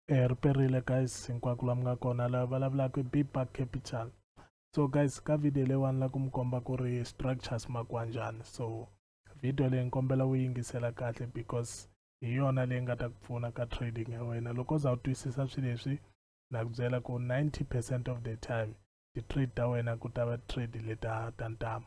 eh, ri perile guys hinkwako la mi nga kona la vulavulaka i big park capital so guys ka video leyiwani la ku mi komba ku ri structures makuwa njhani so video leyi ni kombela u yingisela kahle because hi yona leyi nga ta ku pfuna ka trading ya wena loko u za u twisisa swilo leswi na ku byela ku 90 percent of the time ti-trade ta wena ku ta va trade leta ta ntamu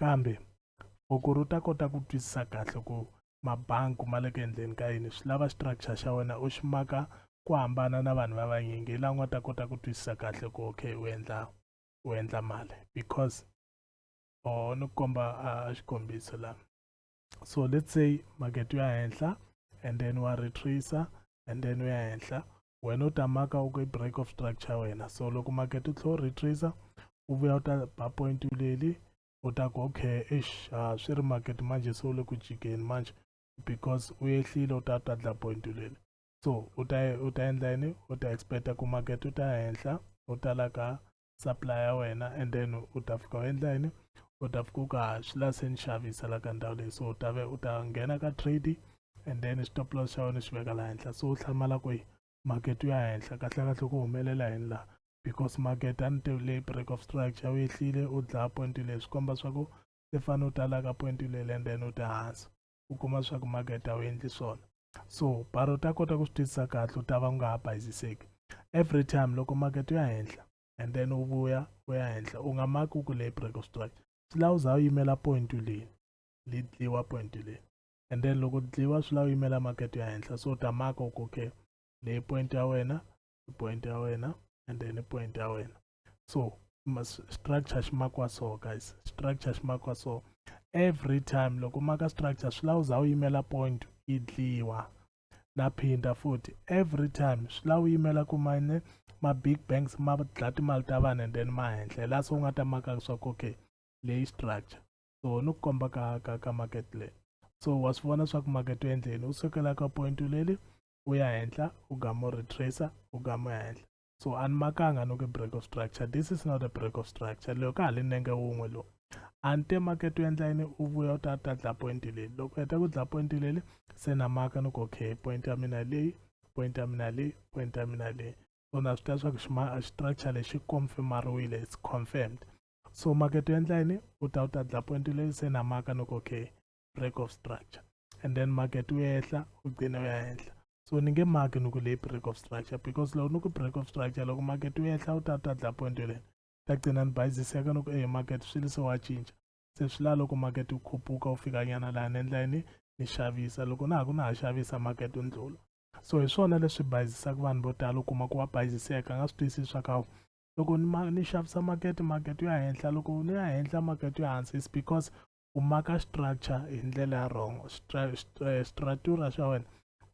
Kambe foko ro ta kota ku twisisa kahle ku mabanku ma le ku endleni ka yini swi lava structure xa wena u xi maka ku hambana na vanhu va vanyingi hi laha u nga ta kota ku twisisa kahle ku okay u endla u endla mali because or ni ku komba a xikombiso laha so let's say market ya henhla and then wa retracer and then ya henhla wena u ta maka u break of structure wena so loko market u tlhe u retracer u vuya u ta ba point leli u ta ku okay ish a swi ri market manje se u le ku jikeni manje because u yehlile u ta ta dla point leli so u ta u ta endla yini u ta expecta ku market u ta henhla u ta la ka supply ya wena and then u ta fika u endla yini u ta fika u ka swi la se ni xavisa la ka ndhawu leyi so u ta ve u ta nghena ka trade and then stop loss xa wena xi veka laha henhla so u hlamala ku yi market ya henhla kahlekahle ku humelela yini laha because market a ni tivi leyi break of structure u yehlile u dlaya point leyi swi komba swa ku i fanele u ta la ka point leyi and then u ta hansi u kuma swa ku makete a wu endli swona so bara u ta kota ku swi twisisa kahle u ta va u nga ha bayiziseki every time loko makete u ya henhla and then u vuya u ya henhla u nga maki u ku leyi break of strike swi lava u za u yimela point leyi li dliwa point leyi and then loko dliwa swi lava u yimela makete u ya henhla so u ta maka u ku okay leyi point ya wena i point ya wena and then i point ya wena so structure xi makiwa so guys structure xi makiwa so every time loko maka structure swi lava u za u yimela point yi dliwa na phinda futhi every time swi lava u yimela ku mane ma-big banks ma dla timali ta vanhu and then ma henhla laha se u nga ta maka leswaku okay leyi structure so ni ku komba ka ka ka market leyi so wa swi vona swaku market u endleni u sukela ka point leli u ya henhla u gama u retracer u gama henhla so a ni makanga no ke break of structure this is not a break of structure leyo ka ha li nenge wun'we lowu a ni te makete u endla yini u vuya u ta ta dla point leli loko heta ku dla point leli se na maka ni ku okay point ya mina leyi point ya mina leyi point ya mina leyi so na swi tiva leswaku xima structure lexi confirmariwile it's confirmed so makete u endla yini u ta u ta dla point leli se na maka ni ku okay break of structure and then market wu ehla wu gcine wu ya henhla so ni nge maki ni ku leyi break of structure because loko ni ku break of structure loko market wu ehla wu ta ta dla point yoleni ta gcina ni bayiziseka ni ku eyi market swilo se wa cinca se swi la loko market wu khupuka wu fika nyana laha ni endla yini ni xavisa loko na ha ku na ha xavisa market wu ndlula so hi swona leswi bayizisaka vanhu vo tala u kuma ku wa bayiziseka a nga swi twisisi swa kawu loko ni, ma, ni xavisa makete makete yo ya henhla loko ni ya henhla makete yo hansi is because u maka structure hi ndlela ya wrong eh, stratura xa wena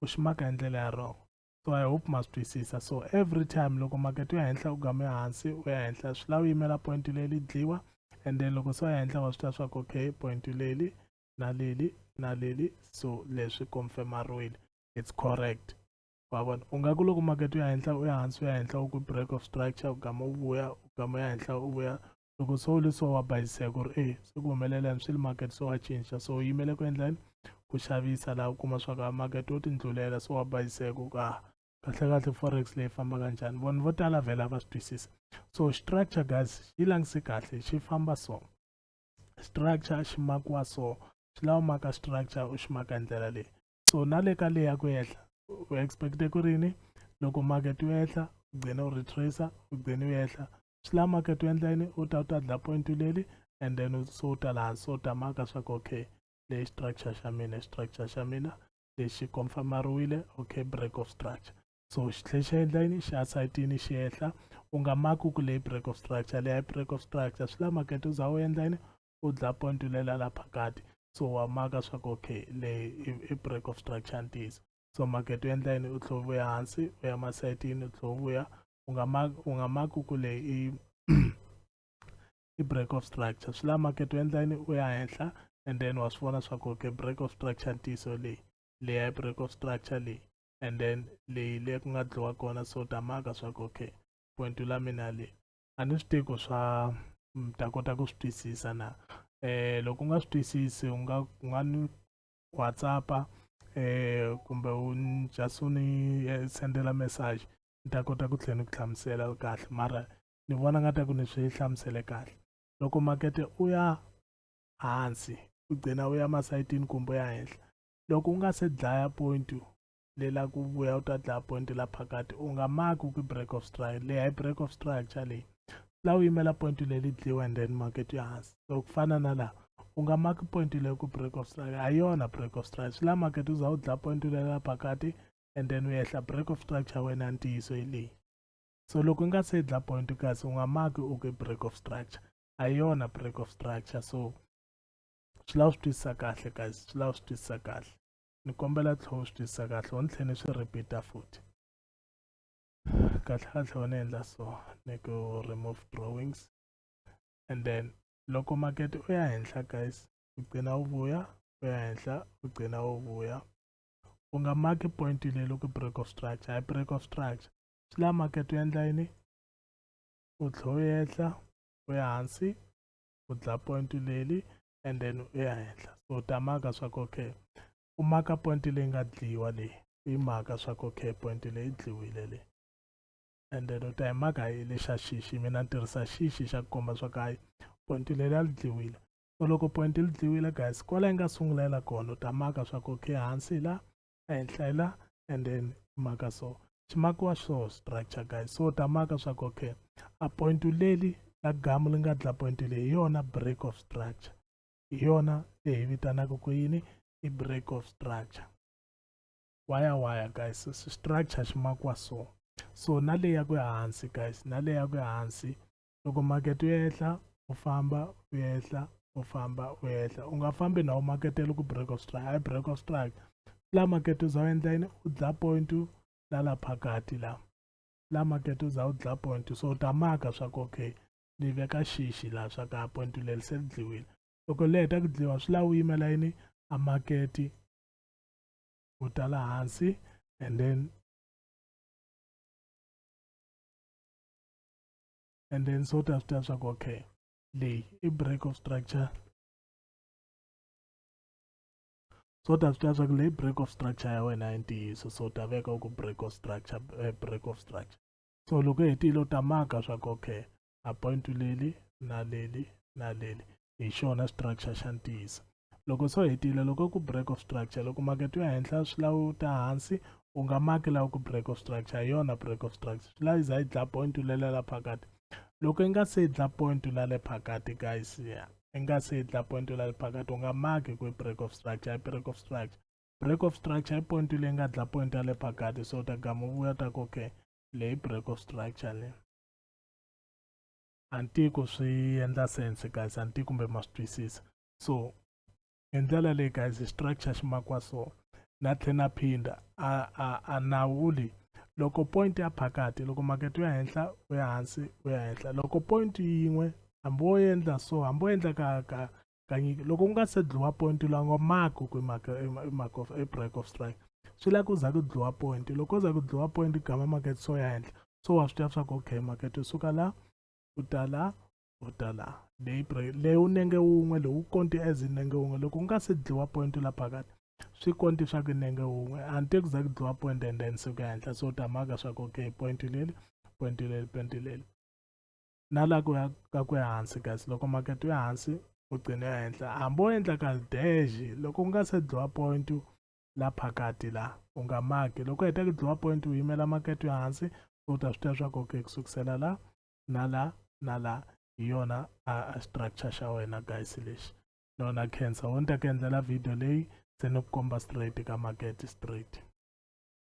u xi maka hi ndlela ya wrong so i hope ma swi twisisa so every time loko makete ya henhla u game hansi u ya henhla swi lava u yimela point leli dliwa and then loko se u ya henhla wa swi tiva swa ku okay point leli na leli na leli so leswi confirmariwile it's correct wa vona u nga ku loko makete u ya henhla u ya hansi u ya henhla u ku break of structure u gama u vuya u gama ya henhla u vuya loko so le so wa bayiseka ku ri e se ku humelela yini swi le market so wa cinca so u yimele ku endla yini ku xavisa laha u kuma swa ku a market wo tindlulela so wa bayiseka ku ka kahlekahle forex leyi fambaka njhani vanhu vo tala vhela va swi twisisa so structure guys yi langise kahle xi famba so structure xi makiwa so swi lava maka structure u xi maka hi ndlela leyi so na le ka leya ku ehla u expecte ku ri yini loko market wu ehla u gcine u retracer u gcine u ehla swi lava market u endla yini u ta u ta dla point leli and then so u ta laha hansi u ta maka swa ku okay leyi structure xa mina structure xa mina lexi confirmariwile okay break of structure so xi tlhe xi endla yini xi asayitini xi ehla u nga maki ku leyi break of structure leyi break of structure swi lava market u za u endla yini u dla point u lela la phakati so wa maka swa ku okay leyi i break of structure ntiyiso so market u endla yini u tlhe u vuya hansi u ya masayitini u tlhe u vuya u nga ma u nga ma ku kule i i break of structure swi la market u endla yini u ya henhla and then wa swi vona swa ku okay break of structure ntiyiso leyi leya i break of structure leyi and then leyi le ku nga dliwa kona so ta maka swa ku okay point la mina leyi a ni swi tivi ku swa mm, ta kota ku swi twisisa na eh loko u nga swi twisisi u nga u nga ni whatsappa eh kumbe u just u ni eh, sendela message ni ta kota ku tlhela ni ku hlamusela kahle mara ni vona nga ta ku ni swi hlamusele kahle loko makete u ya hansi u gcina u ya masayitini kumbe u ya henhla loko u nga se dlaya point le la ku vuya u ta dlaya point la phakati u nga maki ku break of strike leyi hi break of structure leyi la u yimela point leli dliwa and then market ya hansi so ku fana na laha u nga maki point leyi ku break of strike a yona break of strike swi la market u za u dlaya point leyi la phakati and then u ehla break of structure wena ntiyiso hi leyi so loko u nga se dla point kasi u nga maki u ku break of structure a hi yona break of structure so swi lava swi twisisa kahle guys swi lava swi twisisa kahle ni kombela tlhela u swi twisisa kahle u ni tlhela ni swi repeat-a futhi kahle kahle u ni endla so ni ku remove drawings and then loko makete u ya henhla guys u gcina u vuya u ya henhla u gcina u vuya u nga maki point leyi loko break of structure hi break of structure swi la market u endla yini u tlhe u yehla u ya hansi u dlaya point leli and then u ya henhla so u ta maka swa ku okay u maka point leyi nga dliwa leyi u yi maka swa ku okay point leyi dliwile leyi and then u ta hi maka hi lexa xixi mina ni tirhisa xixi xa ku komba swa ku hayi point leri a li dliwile so loko point li dliwile guys kwala yi nga sungula yi la kona u ta maka swa ku okay hansi hi la ehenhla hi la and then maka so ximakiwa xo structure guys so u ta maka swa ku okay a point leli la gamu li nga dla point leyi hi yona break of structure hi yona leyi hi vitanaka ku yini i break of structure waya waya guys structure xi makiwa so so na leyi ya ku hansi guys na leyi ya ku hansi loko market u ehla u famba u ehla u famba u ehla u nga fambi na u maketela ku break of strike hayi break of strike la market u za u endla yini u dla point la la phakati la la market u za u dla point so u ta maka swa ku okay ni veka xixi laha swa ka point leri se ri dliwile loko le heta ku dliwa swi lava u yimela yini a maketi u ta la hansi and then and then so ta swi tiva swa ku okay leyi i break of structure so ta swi tiva swa ku leyi break of structure ya wena ya ntiyiso so ta veka ku break of structure eh, break of structure so loko hetile u ta maka swa ku okay a point leli na leli na leli hi xona structure xa ntiyiso loko swo hetile loko ku break of structure loko makete yo henhla swi lawu ta hansi u nga maki lawa ku break of structure hi yona break of structure swi layiza yi dla point u lelela phakati loko i nga se dla point u lale phakati guys ya i nga se dla point u lale phakati u nga maki ku break of structure i break of structure break of structure i point leyi nga dla point ya le phakati so ta gamu vuya ta ku okay leyi break of structure leyi antiku swi endla sense guys anti kumbe ma swi twisisa so hi ndlela leyi guys structure xi makiwa so na tlhe na phinda a a a nawu leyi loko point ya phakati loko makete ya henhla u ya hansi u ya henhla loko point yin'we hambi wo endla so hambi wo endla ka ka kanye loko ku nga se dliwa point la ngo mark ku maka mark of a break of strike swi la ku za ku dliwa point loko za ku dliwa point gama market so ya henhla so wa swi tiva swa ku okay market u suka la u ta la u ta la leyi break leyi u nenge wun'we lowu konti as nenge wun'we loko ku nga se dliwa point la phakati swi konti swa ku nenge wun'we until ku za ku dliwa point and then suka henhla so u ta maka swa ku okay point leli point leli point leli na la ku ya ka ku ehansi kasi loko makete wu ehansi u gcine ehenhla hambi o endla ka dash loko u nga se dlowa point la phakati la u nga maki loko u heta ku dlowa point u yimela makete yo hansi u ta swi tiva swa ku okay ku sukusela la na la na la hi yona a structure xa wena guys lexi nona cancer wo ni ta ku endlela video leyi se ni ku komba straight ka makete straight